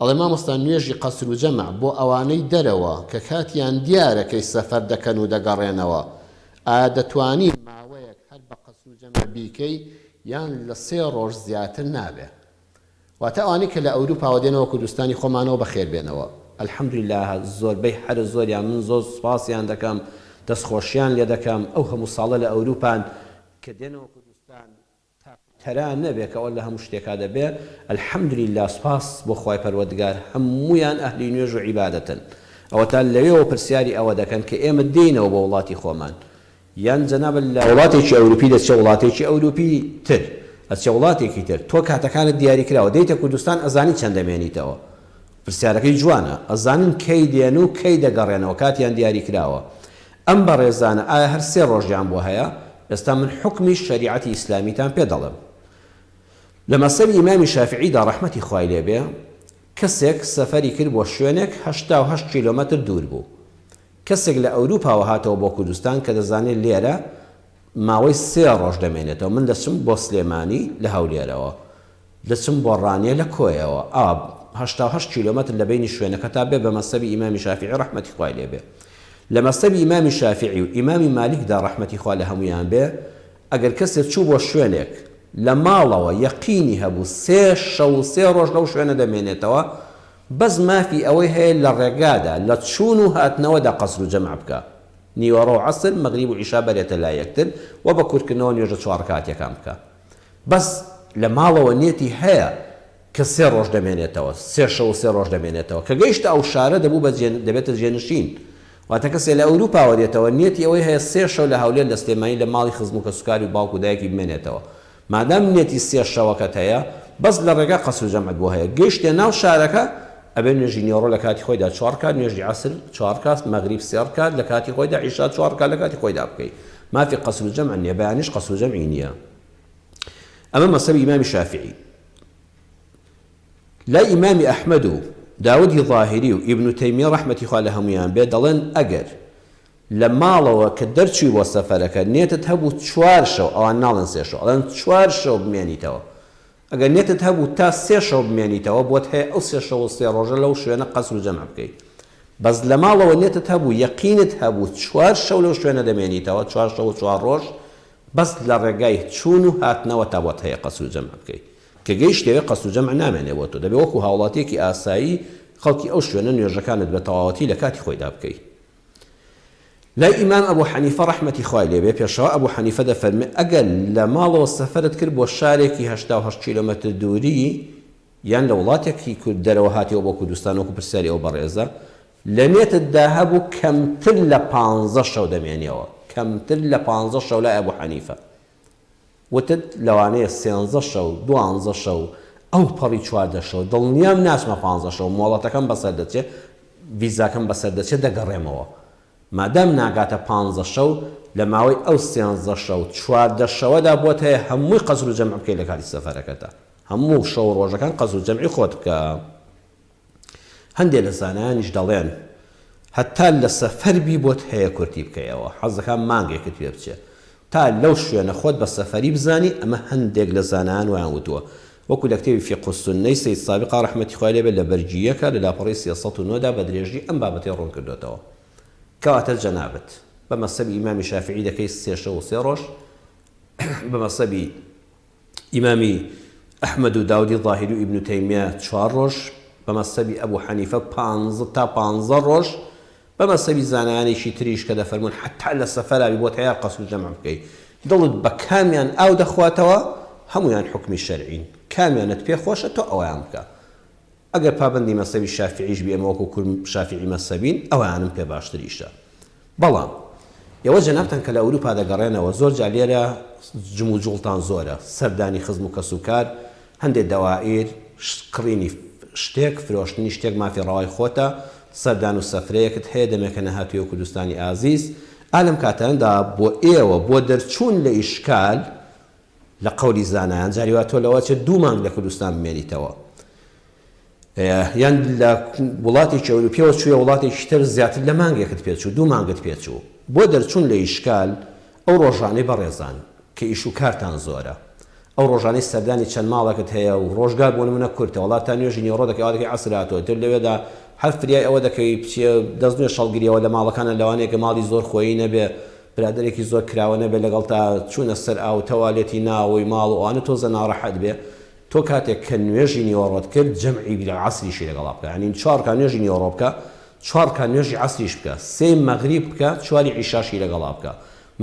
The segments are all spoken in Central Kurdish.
ئەڵێ مامۆستا نوێژی قەسر و جەمع بۆ ئەوانەی دەرەوە کە کاتیان دیارە کەی سەفەر دەکەن و دەگەڕێنەوە ئایا دەتوانی ماوەیەک هەر بە قەسر و جەمع بیکەی یان لە سێ ڕۆژ زیاتر نابێ واتە ئەوانەی کە لە ئەوروپاوە دێنەوە کوردستانی خۆمانەوە بەخێر بێنەوە الحمدللە زۆربەی هەرە زۆریان من زۆر سوپاسیان دەکەم دەستخۆشیان لێ دەکەم ئەو هەموو ساڵە لە ئەوروپان کە دێنەوە کوردستان تەرا نەبێ کە ئەوە لە هەموو شتێکا دەبێ الحمدللە سوپاس بۆ خوای پەروەردگار هەموویان ئەهلی نوێژ و عیبادەتن ئەوەتا لەوێوە پرسیاری ئەوە دەکەن کە ئێمە دێینەوە بۆ وڵاتی خۆمان یان جەنابت لە وڵاتێکی ئەوروپی دەچێ وڵاتێکی ئەوروپی تر ئەچێ وڵاتێکی تر تۆ کاتەکانت دیاری کراوە دێیتە کوردستان ئەزانی چەند دەمێنیتەوە پرسیارەکەی جوانە ئەزانن کەی دێن و کەی دەگەڕێنەوە کاتیان دیاری کراوە ئەم بەڕێزانە ئایا هەر سێ ڕۆژیان بۆ هەیە؟ ئێستا من حوکمی شەریعەتی ئیسلامیتان پێ دەڵێم. لە مەسەبی ئیمامی شافیعیدا ڕەحمەتی خوای لێ بێ، کەسێک سەفەری کرد بۆ شوێنێک هەشتا و هەشت کیلۆمەتر دوور بوو. کەسێک لە ئەوروپاوە هاتەوە بۆ کوردستان کە دەزانێ لێرە ماوەی سێ ڕۆژ دەمێنێتەوە. من دەچم بۆ سلێمانی لە هەولێرەوە. دەچم بۆ ڕانیە لە کۆیەوە ئاب هەشتا و هەشت کیلۆمەتر لە بەینی شوێنەکەتا بێ بە مەسەبی ئیمامی شافیعی ڕەحمەتی خوای لێ بێ لە مەسەبی ئیمامی شافیعی و ئیمامی مالیک دا ڕەحمەتی خوا لە هەموویان بێ ئەگەر کەسێ چوو بۆ شوێنێک لە ماڵەوە یەقینی هەبوو سێ شەو و سێ ڕۆژ لەو شوێنە دەمێنێتەوە بەس مافی ئەوەی هەیە لە ڕێگادا لە چوون و هاتنەوەدا قەسر و جەمع بکا نیوەڕۆ و عەسر مەغریب و عیشا بەرێتە لای یەکتر و بە کورتکردنەوە نوێژە چوار ڕکاتیەکان بکا بەس لە ماڵەوە نێتی هەیە کە سێ ڕۆژ دەمێنێتەوە سێ شەو و سێ ڕۆژ دەمێنێتەوە کە گەیشتە ئەو شارە دەبوو بە جێ دەبێتە جێنشین واتە کەسێ لە ئەوروپاوە دێتەوە نێتی ئەوەی هەیە سێ شەو لە هەولێر لە سلێمانی لە ماڵی خزم و کەسوکاری و باوک و دایکی بمێنێتەوە مادام نێتی سێ شەوەکەت هەیە بەس لە ڕێگا قەسر و جەمعت بۆ هەیە گەیشتە ناو شارەکە ئەبێ نوێژی نیۆڕۆ لە کاتی خۆیدا چوار کات نوێژی عەسر چوار کات مەغریب سێ ڕکات لە کاتی خۆیدا عیشا چوار ڕکات لە کاتی خۆیدا بکەی مافی قصر الجمع نیە بەیانیش قصر الجمع ی نیە ئەمە مەسەبی ئیمامی شافعی لای ئیمامی ئەحمەد و داودی ظاهری و ئیبن تەیمیە ڕەحمەتی خوا لە هەمویان بێ دەڵێن ئەگەر لە ماڵەوە کە دەرچوی بۆ سەفەرەکە نێتت هەبوو چوار شەو ئەوان ناڵێن سێ شەو ئەڵێن چوار شەو بمێنیتەوە ئەگەر نێتت هەبوو تا سێ شەو بمێنیتەوە بۆت هەیە ئەو سێ شەو و سێ ڕۆژە لەو شوێنە قەسر و جەمع بکەی بەس لە ماڵەوە نێتت هەبوو یەقینت هەبوو چوار شەو لەو شوێنە دەمێنیتەوە چوار شەو و چوار ڕۆژ بەس لە ڕێگای چوون و هاتنەوەتا بۆت هەیە قەسر و جەمع بکەی کە گەیشت لەوێ قەسر و جەمع نامێنێ بۆ تۆ دەبێ وەکو هاوڵاتیەکی ئاسایی خەڵکی ئەو شوێنە نوێژەکانت بە تەواوەتی لە کاتی خۆیدا بکەی. لای ئیمام ئەبو حەنیفە ڕەحمەتی خوای لێبێ پێشەوا ئەبو حەنیفە دەفەرموێ ئەگەر لە ماڵەوە سەفەرت کرد بۆ شارێکی هەشتا و هەشت کیلۆمەتر دووری یان لە وڵاتێکی کورد دەرەوە هاتیەوە بۆ کوردستان وەکو پرسیاری ئەو بەڕێزە لە نێتتدا هەبوو کەمتر لە پانزە شەو دەمێنیەوە کەمتر لە پانزە شەو لای ئەبو حەنیفە وتت لەوانەیە سێنزە شەو، دوانزە شەو، ئەوپەڕی چواردە شەو، دڵنیام ناچمە پانزە شەو، مۆڵەتەکەم بەسەر دەچێت، ڤیزاکەم بەسەر دەچێت دەگەڕێمەوە. مادام ناگاتە پانزە شەو، لە ماوەی ئەو سێنزە شەو، چواردە شەوەدا بۆت هەیە هەمووی قەسرو جەمع بکەی لە کاتی سەفەرەکەتدا. هەموو شەو و ڕۆژەکان قەسرو جەمعی خۆت بکە. هەندێ لە زانایانیش دەڵێن هەتا لە سەفەر بی بۆت هەیە کورتی بکەیەوە حەز دەکا مانگێکت پێ بچێ تا لەو شوێنە خۆت بە سەفەری بزانی ئەمە هەندێک لە زانایان وایان وتووە وەکو لە کتێبی فیقه السنە ی سەید سابقا ڕەحمەتی خوای لێ بێت لە بەرگی یەکە لە لاپەڕەی سێ سەد و نۆ دا بە درێژی ئەم بابەتەی ڕوون کردۆتەوە کەواتە جەنابت بە مەسەبی ئیمامی شافیعی دەکەی سێ شەو و سێ ڕۆژ بە مەسەبی ئیمامی ئەحمەد و داودی ظاهری و ئیبن تەیمیە چوار ڕۆژ، بە مەسەبی ئەبو حەنیفە پانزە تا پانزە ڕۆژ، بە مەسەبی زانایانێکی تریش کە دەفەرموون حەتا لە سەفەرا بی بۆتە یار قەسر جەمع بکەی، دڵت بە کامیان ئاو دەخواتەوە هەموویان حوکمی شەرعین، کامیانت پێ خۆشە تۆ ئەوەیان بکە. ئەگەر پابەندی مەزهەبی شافیعیش بی ئێمە وەکو کورد شافیعی مەزهەبین ئەوانم پێ باشتر ئیشە بەڵام ئێوە جەنابتان کە لە ئەوروپا دەگەڕێنەوە زۆر جار لێرە جموجوڵتان زۆرە سەردانی خزم و کەس و کار هەندێ دەوائیر کڕینی شتێک فرۆشتنی شتێک مافی ڕەوای خۆتە سەردان و سەفرەیەکت هەیە دەمێکە نەهاتوویەوە کوردستانی ئازیز ئا لەم کاتانەدا بۆ ئێوە بۆ دەرچوون لە ئیشکال لە قەولی زانایان جاری وا تۆ لەوە چێت دوو مانگ لە کوردستان بمێنیتەوە یان لە وڵاتێکی ئەوروپیەوە چووە وڵاتێکی تر زیاتر لە مانگێکت پێچوو دوو مانگت پێچوو بۆ دەرچوون لە ئیشکال ئەو ڕۆژانەی بەڕێزان کە ئیش و کارتان زۆرە ئەو ڕۆژانی سەردانی چەند ماڵەکەت هەیە و ڕۆژگار بۆ منە کورتە وڵات تا نوێژی نێوڕۆ دەکەی ئەوەکەی عسراتەوە تر لەوێدا هەر فریای ئەوە دەکەوی بچێ دەست نوێ شەڵگریەوە لە ماڵەکانە لەوانەیە کە ماڵی زۆر خۆی نەبێ برادەرێکی زۆر کراوە نەبێ لەگەڵ تا چونە سەر ئاو تەوالێتی ناوەوەی ماڵ و ئەوانە تۆزە ناڕەحەت بێ تۆ کاتێک کە نوێژی نیوەڕۆت کرد جەمعی بیلە عەسریشی لەگەڵا بکە یانی چوار ڕکا نوێژی نیوەڕۆ بکە چوار ڕکا نوێژی عەسریش بکە سێی مەغریب بکە چواری عیشاشی لەگەڵا بکە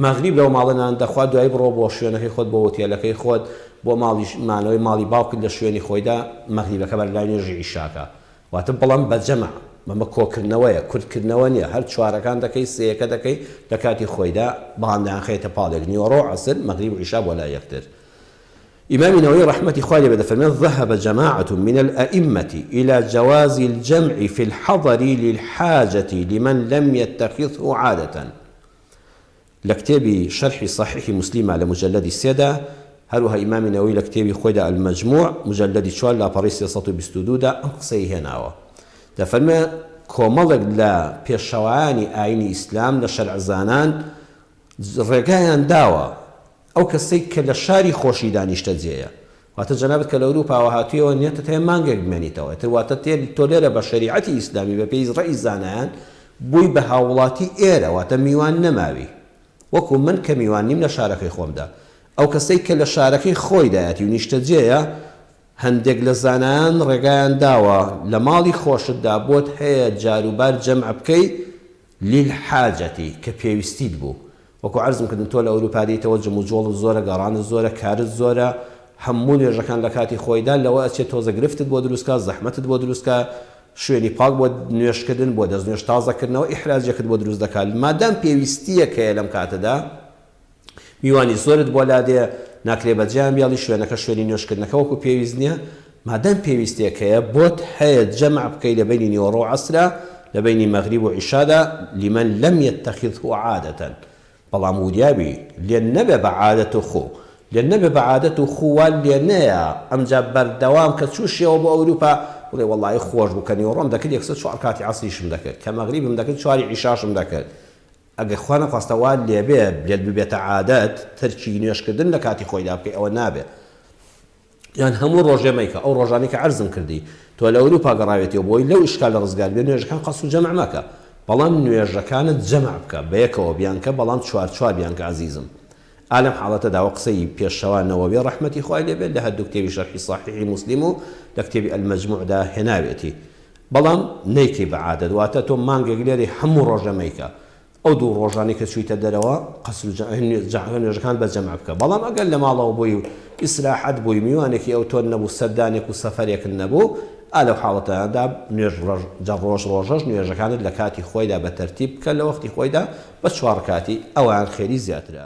مەغریب لەو ماڵە نان دەخوا دوای بڕۆ بۆ شوێنەکەی خۆت بۆ ئوتێلەکەی خۆت بۆ ماڵیش مانەوەی ماڵی باوکت لە شوێنی خۆیدا مەغریبەکە بەر لای نوێژی عیشاکە واتە بڵێم بە جەمع، بەمە کۆکردنەوەیە، کورتکردنەوە نییە، هەر چوارەکان دەکەی، سێیەکە دەکەی، لە کاتی خۆیدا، بەڵام دەیانخەیەتە پاڵێک، نیوەڕۆ و عەسر، مەغریب و عیشا بۆ لای یەکتر. ئیمامی نەوەوی ڕەحمەتی خوای لێ بێت دەفەرمێت، ذهب جماعة من الائمة الی جواز الجمع فی الحضر للحاجة لمن لم یتخذه عادە، لە کتێبی شەرحی سەحیحی موسلیمە لە موجەلەدی سێ دا، هەروەها ئیمامی نەوەوی لە کتێبی خۆیدا المجموع موجەلەدی چوار لاپەڕەی سێ سەد و بیست و دوو دا ئەم قسەی هێناوە دەفەرمێ کۆمەڵێک لە پێشەوایانی ئاینی ئیسلام لە شەرعزانان ڕێگایان داوە ئەو کەسەی کە لە شاری خۆشیدا نیشتەجێیە، واتە جەنابت کە لە ئورووپاوە هاتوویەوە نیەتت هەیە مانگێک بمێنیتەوە، ئیتر واتە تێ تۆ لێرە بە شەریعەتی ئیسلامی بە پێی ڕەئی زانایان بووی بە هاووڵاتی ئێرە، واتە میوان نەماوی وەکوو من کە میوان نیم لە شارەکەی خۆمدا. ئەو کەسەی کە لە شارەکەی خۆیدایەتی و نیشتەجێیە، هەندێک لە زانایان ڕێگایان داوە لە ماڵی خۆشتدا بۆت هەیە جاروبار جەمع بکەی للحاجەتی، کە پێویستیت بوو. وەکو عەرزم کردن تۆ لە ئەوروپا دێیتەوە جموجۆڵت زۆرە گەڕانت زۆرە کارت زۆرە هەموو نوێژەکان لە کاتی خۆیدا لەوە ئەچێت تۆزە گرفتت بۆ دروست کا زەحمەتت بۆ دروست کا شوێنی پاک بۆ نوێژ کردن بۆ دەست نوێژ تازە کردنەوە ئیحراجێکت بۆ دروست دەکا مادام پێویستیەک هەیە لەم کاتەدا میوانی زۆرت بۆ لادێ ناکرێ بەجێیان بێڵی شوێنەکە شوێنی نوێژ کردنەکە وەکو پێویست نیە مادام پێویستێک هەیە بۆت هەیە جەمع بکەی لە بەینی نیوەڕۆ و عەسرا لە بەینی مەغریب و عیشادا لمن لم یتخذه عادە بەڵام وریابی لێ نەبێ بە عادەت و خو لێ نەبێ بە عادەت و خو وا لێ نەیە ئەمجا بەردەوام کە چوشیەوە بۆ ئەوروپا بڵێ وەڵایی خۆش بوو کە نیوەڕۆم دەکرد یەکسەر چوار کاتی عەسریشم دەکرد کە مەغریبم دەکرد چواری عیشاشم دەکرد ئەگەر خوا نەخواستە وات لێبێ لێت ببێتە عادەت تەرکی نوێژکردن لە کاتی خۆیدا بکەی ئەوە نابێ یان هەموو ڕۆژێ مەیکە ئەو ڕۆژانەی کە عەرزم کردی تۆ لە ئەوروپا گەڕاوێتیەوە بۆی لەو ئیشکالە ڕزگار بێ نوێژەکان قەسر و جەمع مەکە بەڵام نوێژەکانت جەمع بکە بەیەکەوە بیانکە بەڵام چوار چوار بیانکە ئەزیزم. ئا لەم حاڵەتەدا وەک قسەی پێشەوا نەوەوی ڕەحمەتی خوای لێ بێت لە هەردوو کتێبی شەرحی سەحیحی موسلیم و لە کتێبی المجموع دا هێناوێتی بەڵام نەیکەی بە عادەت واتە تۆ مانگێک لێرەی هەموو ڕۆژە مەیکە ئەو دوو ڕۆژانەی کە چوویتە دەرەوە قەسر و جەعل نوێژەکان بە جەمع بکە بەڵام ئەگەر لە ماڵەوە بووی و ئیسراحەت بووی میوانێکی ئەو تۆن نەبوو سەردانێک و سەفەرێکت نەبوو ئا لەو حاڵەتەدا نوێژ ڕەژ جە ڕۆژ ڕۆژەش نوێژەکانت لە کاتی خۆیدا بە تەرتیب بکە لە وەختی خۆیدا بە چوار ڕکاتی ئەوان خێری زیاترە.